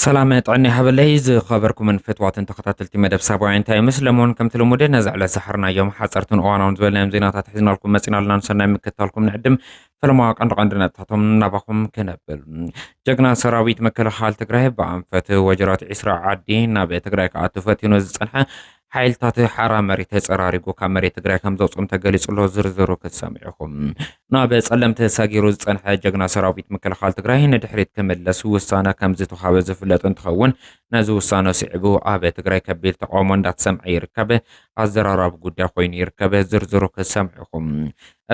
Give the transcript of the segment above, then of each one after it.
ሰላም ጥዕና ይሃበለይ ዝኸበርኩምን ፍትዋትን ተኸታተልቲ መደብ ሳባውያን ታይምስ ለሞን ከምቲ ልሙድ ነዚ ዕለት ዝሓርናዮም ሓፀርትን እዋናውን ዝበልናዮም ዜናታት ሒዝናልኩም መፂና ኣለና ንሰናይ ምክታልኩም ንዕድም ፈለማ ቀንዲ ቀንዲ ነጥብታቶም ናባኹም ክነብል ጀግና ሰራዊት መከላኸሊ ትግራይ ብኣንፈት ወጀራት ዒስራ ዓዲ ናብ ትግራይ ክኣቱ ፈቲኑ ዝፀንሐ ሓይልታት ሓራ መሬት ተፀራሪጉ ካብ መሬት ትግራይ ከም ዘውፅኦም ተገሊፁ ኣሎ። ዝርዝሩ ክትሰምዑ ኢኹም። ናብ ፀለምቲ ሰጊሩ ዝፀንሐ ጀግና ሰራዊት ምክልኻል ትግራይ ንድሕሪት ክምለስ ውሳነ ከም ዝተውሃበ ዝፍለጥ እንትኸውን ነዚ ውሳነ ስዒቡ ኣብ ትግራይ ከቢድ ተቃውሞ እንዳተሰምዐ ይርከብ። ኣዘራራቢ ጉዳይ ኮይኑ ይርከብ። ዝርዝሩ ክትሰምዑ ኢኹም።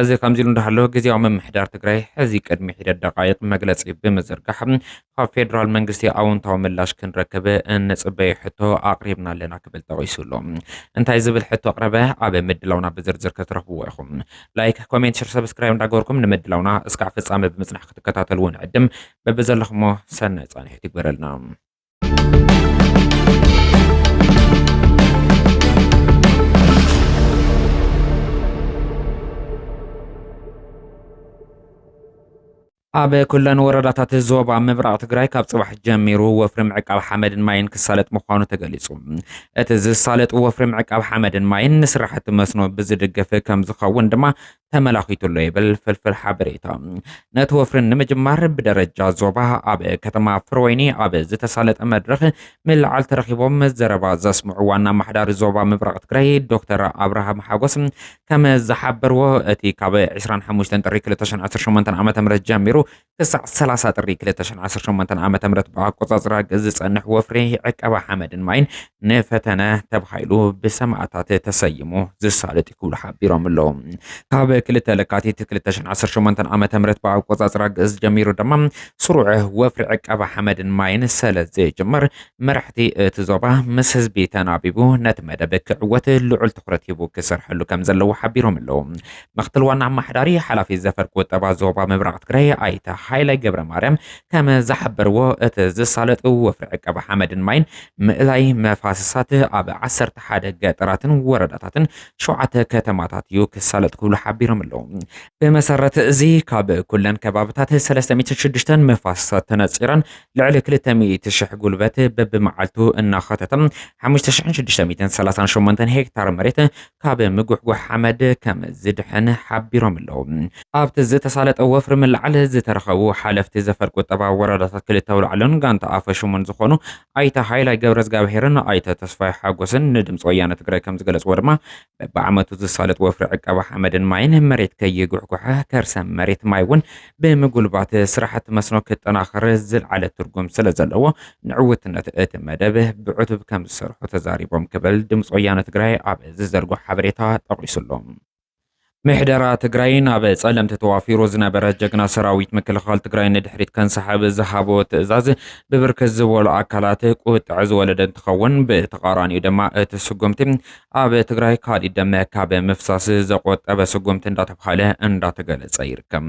እዚ ከምዚሉ እንዳሃሎ ግዝያዊ ምምሕዳር ትግራይ ሕዚ ቅድሚ ሒደት ደቓይቕ መግለፂ ብምዝርጋሕ ካብ ፌዴራል መንግስቲ ኣወንታዊ ምላሽ ክንረክብ እንፅበዮ ሕቶ ኣቕሪብና ኣለና ክብል ጠቒሱ ኣሎ። እንታይ ዝብል ሕቶ ኣቕረበ? ኣብ ምድላውና ብዝርዝር ክትረኽብዎ ኢኹም። ላይክ፣ ኮሜንት፣ ሸር፣ ሰብስክራይብ እንዳገበርኩም ንምድላውና እስካዕ ፍፃመ ብምፅናሕ ክትከታተልዎ ንዕድም። በብዘለኹሞ ሰናይ ፃንሒት ይግበረልና። ኣብ ኩለን ወረዳታት ዞባ ምብራቕ ትግራይ ካብ ፅባሕ ጀሚሩ ወፍሪ ምዕቃብ ሓመድን ማይን ክሳለጥ ምዃኑ ተገሊፁ። እቲ ዝሳለጥ ወፍሪ ምዕቃብ ሓመድን ማይን ንስራሕቲ መስኖ ብዝድግፍ ከም ዝኸውን ድማ ተመላኺቱ ኣሎ ይብል ፍልፍል ሓበሬታ። ነቲ ወፍሪ ንምጅማር ብደረጃ ዞባ ኣብ ከተማ ፍርወይኒ ኣብ ዝተሳለጠ መድረኽ ምልዓል ተረኺቦም ዘረባ ዘስምዑ ዋና ኣማሓዳሪ ዞባ ምብራቕ ትግራይ ዶክተር ኣብርሃም ሓጎስ ከም ዝሓበርዎ እቲ ካብ 25 ጥሪ 2018 ዓ ም ጀሚሩ ክሳዕ ሰላሳ ጥሪ ክልተ ሽሕን ዓሰርተ ሸሞንተን ዓመተ ምህረት ብኣቆጻጽራ ግእዝ ዝጸንሕ ወፍሪ ዕቀባ ሓመድን ማይን ንፈተነ ተባሂሉ ብሰማእታት ተሰይሙ ዝሳለጥ ክብሉ ሓቢሮም ኣለዉ። ካብ ክልተ ለካቲት ክልተ ሽሕን ዓሰርተ ሸሞንተን ዓመተ ምህረት ብኣቆጻጽራ ግእዝ ጀሚሩ ድማ ስሩዕ ወፍሪ ዕቀባ ሓመድን ማይን ሰለ ዝጅመር መራሕቲ እቲ ዞባ ምስ ህዝቢ ተናቢቡ ነቲ መደብ ክዕወት ልዑል ትኹረት ሂቡ ክሰርሐሉ ከም ዘለዎ ሓቢሮም ኣለዉ። ምክትል ዋና ኣማሓዳሪ ሓላፊ ዘፈር ቁጠባ ዞባ ምብራቕ ትግራይ ኣይተ ሃይለ ገብረ ማርያም ከም ዝሓበርዎ እቲ ዝሳለጥ ወፍሪ ዕቀባ ሓመድን ማይን ምእላይ መፋስሳት ኣብ ዓሰርተ ሓደ ገጠራትን ወረዳታትን ሸውዓተ ከተማታት እዩ ክሳለጥ ክብሉ ሓቢሮም ኣለዉ። ብመሰረት እዚ ካብ ኩለን ከባብታት 306 መፋስሳት ተነፂረን ልዕሊ 200 ሽሕ ጉልበት በብመዓልቱ እናኸተተም 5638 ሄክታር መሬት ካብ ምጉሕጓሕ ሓመድ ከም ዝድሕን ሓቢሮም'ለው። ኣብቲ ዝተሳለጠ ወፍሪ ምልዓል ዝተረኸቡ ሓለፍቲ ዘፈር ቁጠባ ወረዳታት ክልተ ኣውላዕሎን ጋንታ ኣፈሹሙን ዝኾኑ ኣይተ ሃይላይ ገብረዝጋብሄርን ኣይተ ተስፋይ ሓጎስን ንድምፂ ወያነ ትግራይ ከም ዝገለፅዎ ድማ በቢዓመቱ ዝሳለጥ ወፍሪ ዕቀባ ሓመድን ማይን መሬት ከይጉሕጓሐ ከርሰ መሬት ማይ እውን ብምጉልባት ስራሕቲ መስኖ ክጠናኸር ዝልዓለ ትርጉም ስለዘለዎ ንዕውትነት እቲ መደብ ብዕቱብ ከምዝሰርሑ ተዛሪቦም ክብል ድምፂ ወያነ ትግራይ ኣብ ዝዘርጎ ሓበሬታ ጠቒሱ ኣሎ። ምሕደራ ትግራይ ናብ ጸለምቲ ተዋፊሩ ዝነበረ ጀግና ሰራዊት ምክልኻል ትግራይ ንድሕሪት ከንሳሕብ ዝሃቦ ትእዛዝ ብብርክት ዝበሉ ኣካላት ቁጥዐ ዝወለደ እንትኸውን ብተቓራኒኡ ድማ እቲ ስጉምቲ ኣብ ትግራይ ካሊእ ደም ካብ ምፍሳስ ዘቆጠበ ስጉምቲ እንዳተብሃለ እንዳተገለፀ ይርከብ።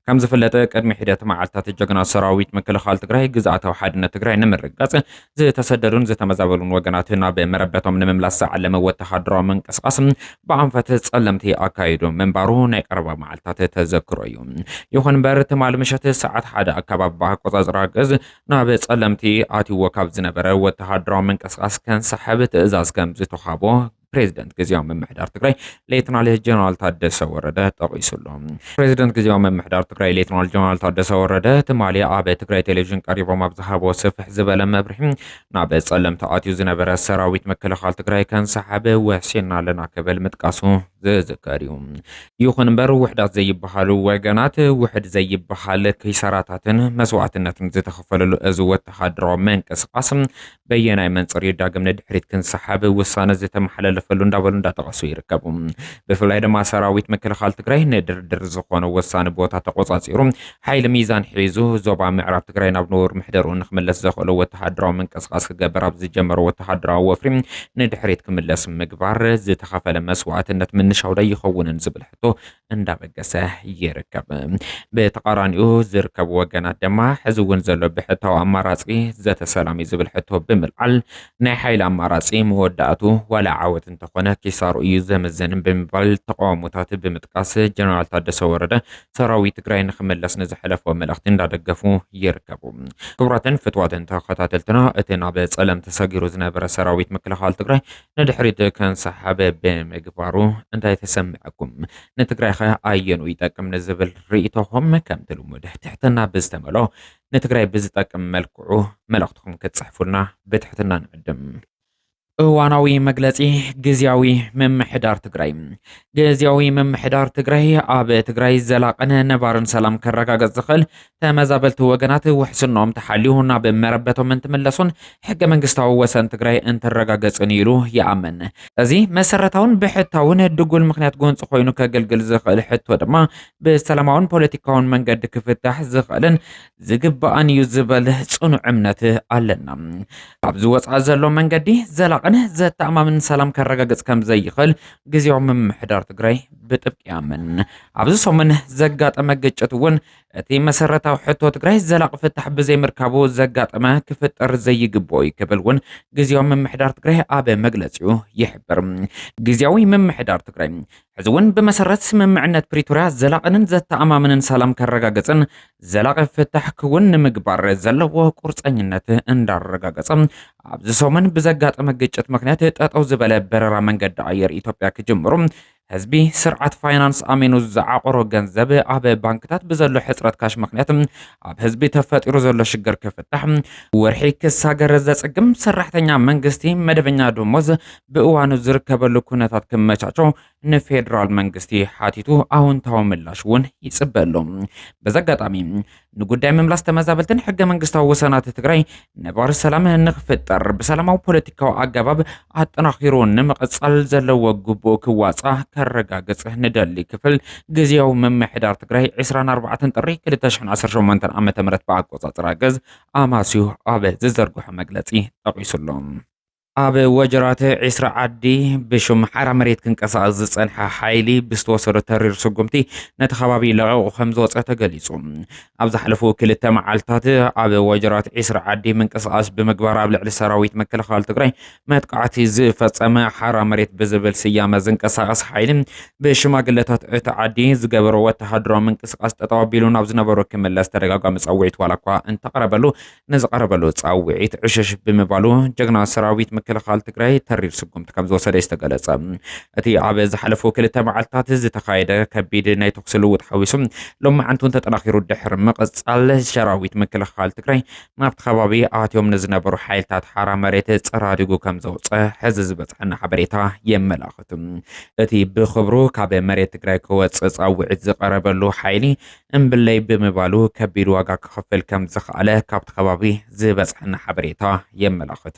ከም ዝፍለጥ ቅድሚ ሒደት መዓልታት ጀግና ሰራዊት ምክልኻል ትግራይ ግዝኣታዊ ሓድነት ትግራይ ንምርግጋፅ ዝተሰደዱን ዝተመዛበሉን ወገናት ናብ መረበቶም ንምምላስ ዝዓለመ ወተሃደራዊ ምንቅስቓስ ብኣንፈት ፀለምቲ ኣካይዱ ምንባሩ ናይ ቀረባ መዓልታት ተዘክሮ እዩ። ይኹን እምበር ትማል ምሸት ሰዓት ሓደ ኣካባቢ ብኣቆፃፅራ ግእዝ ናብ ጸለምቲ ኣትይዎ ካብ ዝነበረ ወተሃደራዊ ምንቅስቓስ ከንሳሕብ ትእዛዝ ከም ዝተውሃቦ ፕሬዚደንት ግዜያዊ ምምሕዳር ትግራይ ሌትናል ጀነራል ታደሰ ወረደ ጠቒሱ ኣሎ። ፕሬዚደንት ግዜያዊ ምምሕዳር ትግራይ ሌትናል ጀነራል ታደሰ ወረደ ትማሊ ኣብ ትግራይ ቴሌቪዥን ቀሪቦም ኣብ ዝሃቦ ስፍሕ ዝበለ መብርሒ ናብ ጸለም ተኣትዩ ዝነበረ ሰራዊት ምክልኻል ትግራይ ከንሳሓብ ወሲንና ኣለና ክብል ምጥቃሱ ዝዝከር እዩ። ይኹን እምበር ውሕዳት ዘይበሃሉ ወገናት ውሕድ ዘይበሃል ኪሳራታትን መስዋእትነትን ዝተኸፈለሉ እዚ ወተሃደራዊ ምንቅስቓስ በየናይ መንፅር እዩ ዳግም ንድሕሪት ክንሰሓብ ውሳነ ዝተመሓላለፈሉ እንዳበሉ እንዳጠቐሱ ይርከቡ። ብፍላይ ድማ ሰራዊት ምክልኻል ትግራይ ንድርድር ዝኾነ ወሳኒ ቦታ ተቆፃፂሩ ሓይሊ ሚዛን ሒዙ ዞባ ምዕራብ ትግራይ ናብ ንቡር ምሕደርኡ ንክምለስ ዘኽእሎ ወተሃደራዊ ምንቅስቓስ ክገበር ኣብ ዝጀመሮ ወተሃደራዊ ወፍሪ ንድሕሪት ክምለስ ምግባር ዝተኸፈለ መስዋእትነት ምንሻው ዶ ይኸውንን ዝብል ሕቶ እንዳበገሰ ይርከብ። ብተቓራኒኡ ዝርከቡ ወገናት ድማ ሕዚ እውን ዘሎ ብሕታዊ ኣማራፂ ዘተ ሰላም እዩ ዝብል ሕቶ ብምልዓል ናይ ሓይሊ ኣማራፂ መወዳእቱ ዋላ ዓወት እንተኾነ ኪሳሩ እዩ ዘመዘንን ብምባል ተቃውሞታት ብምጥቃስ ጀነራል ታደሰ ወረደ ሰራዊት ትግራይ ንክምለስ ንዝሐለፎ መልእኽቲ እንዳደገፉ ይርከቡ። ክቡራትን ፍትዋትን ተኸታተልትና እቲ ናብ ፀለምት ተሰጊሩ ዝነበረ ሰራዊት ምክልኻል ትግራይ ንድሕሪት ከንሳሓብ ብምግባሩ እንታይ ተሰመዐኩም? ንትግራይኸ ኣየንኡ ይጠቅም ንዝብል ሪኢቶኹም ከምቲ ልሙድ ትሕትና ብዝተመልኦ ንትግራይ ብዝጠቅም መልክዑ መልእኽትኹም ክትፅሕፉልና ብትሕትና ንዕድም። እዋናዊ መግለፂ ግዝያዊ ምምሕዳር ትግራይ ግዝያዊ ምምሕዳር ትግራይ ኣብ ትግራይ ዘላቕን ነባርን ሰላም ከረጋገፅ ዝኽእል ተመዛበልቲ ወገናት ውሕስኖም ተሓልዩ ናብ መረበቶም እንትምለሱን ሕገ መንግስታዊ ወሰን ትግራይ እንትረጋገፅን ኢሉ ይኣምን። እዚ መሰረታውን ብሕታውን ድጉል ምክንያት ጎንፂ ኮይኑ ከገልግል ዝኽእል ሕቶ ድማ ብሰላማውን ፖለቲካውን መንገዲ ክፍታሕ ዝኽእልን ዝግባእን እዩ ዝበል ጽኑዕ እምነት ኣለና። ካብዚ ወፃኢ ዘሎ መንገዲ ዘላቕን ዘተኣማምን ሰላም ከረጋግጽ ከም ዘይኽእል ግዜያዊ ምምሕዳር ትግራይ ብጥብቂ ያምን። ኣብዚ ሰሙን ዘጋጠመ ግጭት እውን እቲ መሰረታዊ ሕቶ ትግራይ ዘላቂ ፍታሕ ብዘይምርካቡ ዘጋጠመ ክፍጠር ዘይግብኦ እዩ ክብል እውን ግዜያዊ ምምሕዳር ትግራይ ኣብ መግለፂኡ ይሕብር። ግዜያዊ ምምሕዳር ትግራይ ሕዚ እውን ብመሰረት ስምምዕነት ፕሪቶርያ ዘላቕንን ዘተኣማምንን ሰላም ከረጋገፅን ዘላቒ ፍታሕ ክውን ንምግባር ዘለዎ ቁርፀኝነት እንዳረጋገፀ ኣብዚ ሰሙን ብዘጋጠመ ግጭት ምክንያት ጠጠው ዝበለ በረራ መንገዲ ኣየር ኢትዮጵያ ክጅምሩ ህዝቢ ስርዓት ፋይናንስ ኣሚኑ ዝዓቆሮ ገንዘብ ኣብ ባንክታት ብዘሎ ሕፅረት ካሽ ምክንያት ኣብ ህዝቢ ተፈጢሩ ዘሎ ሽግር ክፍታሕ ወርሒ ክሳገር ዘፅግም ሰራሕተኛ መንግስቲ መደበኛ ደሞዝ ብእዋኑ ዝርከበሉ ኩነታት ክመቻቾ ንፌዴራል መንግስቲ ሓቲቱ ኣውንታዊ ምላሽ እውን ይፅበ ኣሎ። በዚ ኣጋጣሚ ንጉዳይ ምምላስ ተመዛበልትን ሕገ መንግስታዊ ወሰናት ትግራይ ነባሪ ሰላም ንክፍጠር ብሰላማዊ ፖለቲካዊ ኣገባብ ኣጠናኺሩ ንምቕፃል ዘለዎ ግቡእ ክዋፃ ከረጋግፅ ንደሊ ክፍል ግዜያዊ ምምሕዳር ትግራይ 24 ጥሪ 2018 ዓ ም ብኣቆፃፅራ ገዝ ኣማስዩ ኣብ ዝዘርግሖ መግለፂ ጠቒሱ ኣሎ። ኣብ ወጀራት ዒስራ ዓዲ ብሽም ሓራ መሬት ክንቀሳቐስ ዝጸንሐ ሓይሊ ብዝተወሰዶ ተሪር ስጉምቲ ነቲ ከባቢ ለቒቑ ከም ዝወጸ ተገሊጹ። ኣብ ዝሓለፉ ክልተ መዓልትታት ኣብ ወጀራት ዒስራ ዓዲ ምንቅስቓስ ብምግባር ኣብ ልዕሊ ሰራዊት ምክልኻል ትግራይ መጥቃዕቲ ዝፈጸመ ሓራ መሬት ብዝብል ስያመ ዝንቀሳቐስ ሓይሊ ብሽማግለታት እቲ ዓዲ ዝገበሮ ወተሃደራዊ ምንቅስቓስ ጠጠው ኣቢሉ ናብ ዝነበሮ ክምለስ ተደጋጋሚ ጸውዒት ዋላ እኳ እንተቐረበሉ ንዝቐረበሉ ፃውዒት ዕሽሽ ብምባሉ ጀግና ሰራዊት ምክልኻል ትግራይ ተሪር ስጉምቲ ከም ዝወሰደ እዩ ዝተገለፀ። እቲ ኣብ ዝሓለፉ ክልተ መዓልትታት ዝተኻየደ ከቢድ ናይ ተኹሲ ልውጥ ሓዊሱ ሎማዕንቲ እውን ተጠናኺሩ ድሕሪ ምቕፃል ሰራዊት ምክልኻል ትግራይ ናብቲ ከባቢ ኣትዮም ንዝነበሩ ሓይልታት ሓራ መሬት ፀራሪጉ ከም ዘውፀ ሕዚ ዝበፅሐና ሓበሬታ የመላኽት። እቲ ብክብሩ ካብ መሬት ትግራይ ክወፅእ ፃውዒት ዝቐረበሉ ሓይሊ እምብለይ ብምባሉ ከቢድ ዋጋ ክኸፍል ከም ዝኸኣለ ካብቲ ከባቢ ዝበጽሓና ሓበሬታ የመላኽት።